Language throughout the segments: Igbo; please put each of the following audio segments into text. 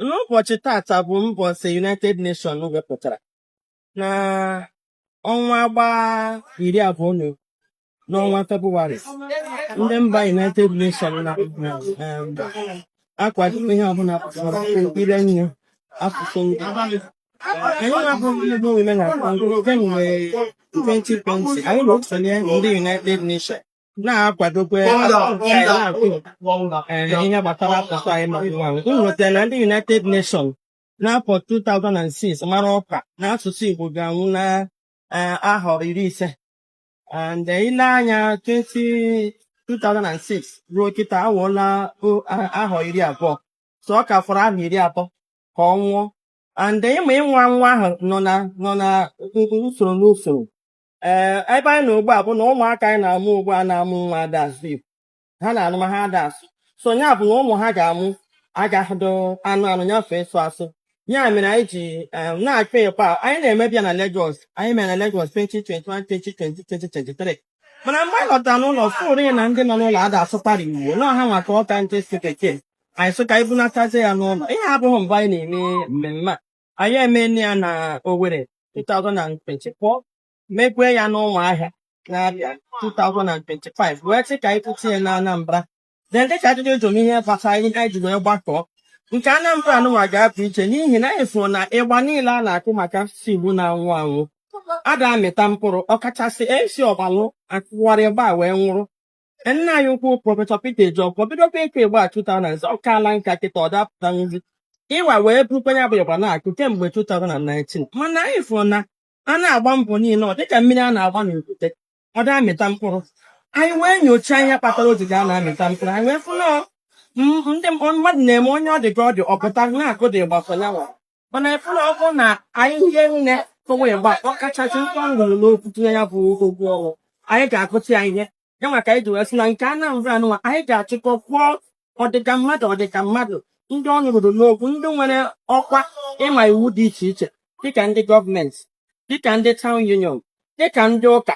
n'ụbọchị tata bụ mbọsị United Nations wepụtara na ọnwa gbaa iri abụọ na n'ọnwa Febụwarị ndị mba United Nations na-akwado ihe bụ ire nne asụsụ ndị anyịnwa bụ ndị Igbo Women Assembly kemgbe 2020 anyị na-esonye ndị United Nations na-akwadokwa asọmpi anyị na-akụ eh, ihe gbasara asụsụ anyị ma nwa m nwetara na ndị United Nations n'afọ 2006 mara ọkwa na asụsụ Igbo ga-anwụ na eh, ahọ iri ise and eh, ile anya 20 2006 ruo kịta awụọla o- a- ahọ iri abụọ so ọ ka fọrọ ahọ iri atọ ka ọ nwụọ and ịma ịnwa nwa ahụ nọ na nọ na usoro n'usoro ee ebe anyị na ugbu a bụ na ụmụaka anyị na-amụ ugbu a na-amụ nwa ada asụ Igbo ha na-anụ ma ha ada asụ so ya bụ na ụmụ ha ga-amụ agaghịdụ anụ anụ nya fọ ịsụ asụ ya mere anyị ji eh, na-achọ ịkwa anyị na-emebu ya na Lagos anyị mere na Lagos 2021 2020 2023 mana mgbe anyị lọtara n'ụlọ fụrụ na ndị nọ n'ụlọ ada asụkpara Igbo na ọ hanwa ka ọka n'ịsụ bekee anyị sị ka anyị bunatazie ya n'ụlọ ihe a abụghị mbụ anyị na-eme mmemme a anyị emeela ya na Owerri 2024 mekwe ya n'Ụmụahịa n'Abịa 2025 wee sị ka anyị bute ya n'Anambra then dịka ajụjụ ị jụrụ m ihe gbasara ihe anyị ji wee gbakọọ nke Anambra anụnwa ga-apụ iche n'ihi na anyị fụrụ na ịgba niile a na-akụ maka asụsụ Igbo na-anwụ anwụ ada amịta mkpụrụ ọkachasị F.C. Ọgbalụ kụwara ịgba wee nwụrụ nna anyị ukwu prọfesọ Pita Ejiọfọ bidokwa ịkụ ịgba a 2000 ọ kaala nka kịta ọ da apụtazi IWA wee burukwa ya bụ ịgba na-akụ kemgbe 2019 mana anyị fụrụ na a na-agba mbọ niile ọ dịka mmiri a na-agba n'okwute ọ da amịta mkpụrụ anyị wee nyochaa ihe kpatara o jighị na-amịta mkpụrụ anyị wee fụ na ndị mmadụ na-eme onye ọ dị ka ọ dị ọ pụta na-akụ dị ịgba sọ yanwa mana a fụ na ọ bụrụ na anyị niine kụwa ịgba ọkachasị ndị ọnụ ruru n'okwu tinye ya bụ okwu ọnụ anyị ga-akụchi ya ihe ya maka anyị ji wee sị na nke Anambra anụnwa anyị ga-achịkọkwuo ọdịka mmadụ ọdịka mmadụ ndị ọnụ ruru n'okwu ndị nwere ọkwa ịma iwu dị iche iche dịka ndị gọọmenti dịka ndị town union dịka ndị ụka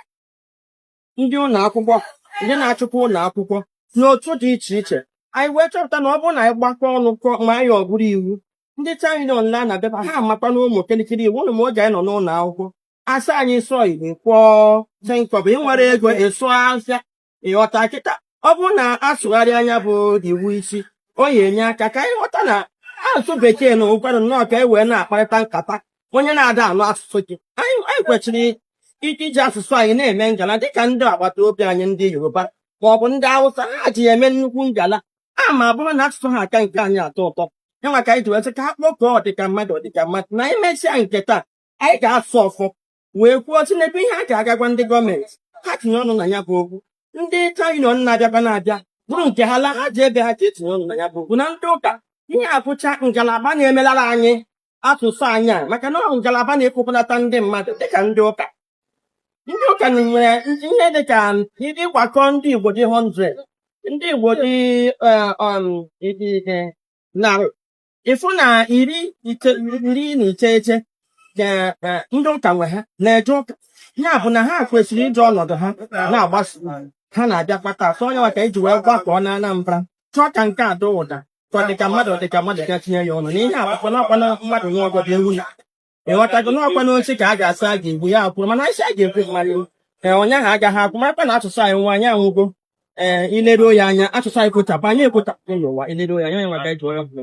ndị ụlọ akwụkwọ ndị na-achịkwa ụlọ akwụkwọ n'otu dị iche iche anyị wee chọpụta na ọ bụrụ na anyị gbakọọ ọnụ kwuo maa ya ọ bụrụ iwu ndị town union laa na be ha makwaara ụmụ kirikiri iwu unu ma oge anyị nọ n'ụlọ akwụkwọ a sị anyị sụọ Igbo kwụọ ten kọbọ ị nwerọ ego ị sụọ ahịhịa ị ghọta kịta ọ bụrụ na a tụgharịa nya bụ iwu isi ọ ya-enye aka ka anyị ghọta na asụsụ bekee na ụkwara nnọọ ka e wee na-akparịta nkata onye na-ada anụ asụsụ gị anyị anyị kwesịrị iji iji asụsụ anyị na-eme ngala dịka ndị agbata obi anyị ndị yoruba ma ọ bụ ndị awụsa ha ji ya eme nnukwu ngala a ma ọ bụrọ na asụsụ ha ka nke anyị atọ ụtọ ya maka anyị ji wee sị ka ha kpọkọọ ọdịka mmadụ ọdịka mmadụ na anyị mesịa nke taa anyị ga-asụ ọfọ wee kwuo si n'ebe ihe a ga-aga gwa ndị gọọmenti ha tinye ọnụ na ya bụ okwu ndị town union na-abịakwa na-abịa buru nke ha laa ha ji ebe ha ji etinye ọnụ na ya bụ okwu na ndị ụka ihe afụ cha ngalaba na-emelara anyị asụsụ anya maka na ọ ngalaba na-ekpokọnata ndị mmadụ dịka ndị ụka ndị ụka nwere ihe dịka ị gbakọọ ndị Igbo dị 100 ndị Igbo dị eh, um, narị ị fụ na iri na iteghete ka eh, ndị ụka nwe ha na-eje ụka ya bụ na ha kwesịrị iji ọnọdụ ha na-agbaso ha na-abịa kpata asọ ọ ya maka e ji wee gbakọọ na Anambra chọọ ka nke a daa ụda ọ dị ka mmadụ ọ dị ka mmadụ ka tinye ya ọnụ n'ihe akpakpọ n'ọkwa na mmadụ nwa ọgọdọ ewu na ị ghọtago n'ọkwa na oche ka a ga-asị a ga-egbu ya akwụrụ mana ị sị a ga-egbu mmadụ ee onye ahụ agaghị akwụ marakwa na asụsụ anyị nwụọ anyị anwụgo ee i leruo ya anya asụsụ anyị kwotapụ anyị ekwotapụ n'ụwa i leruo ya anya onye nwa ga-eji onye ọbụla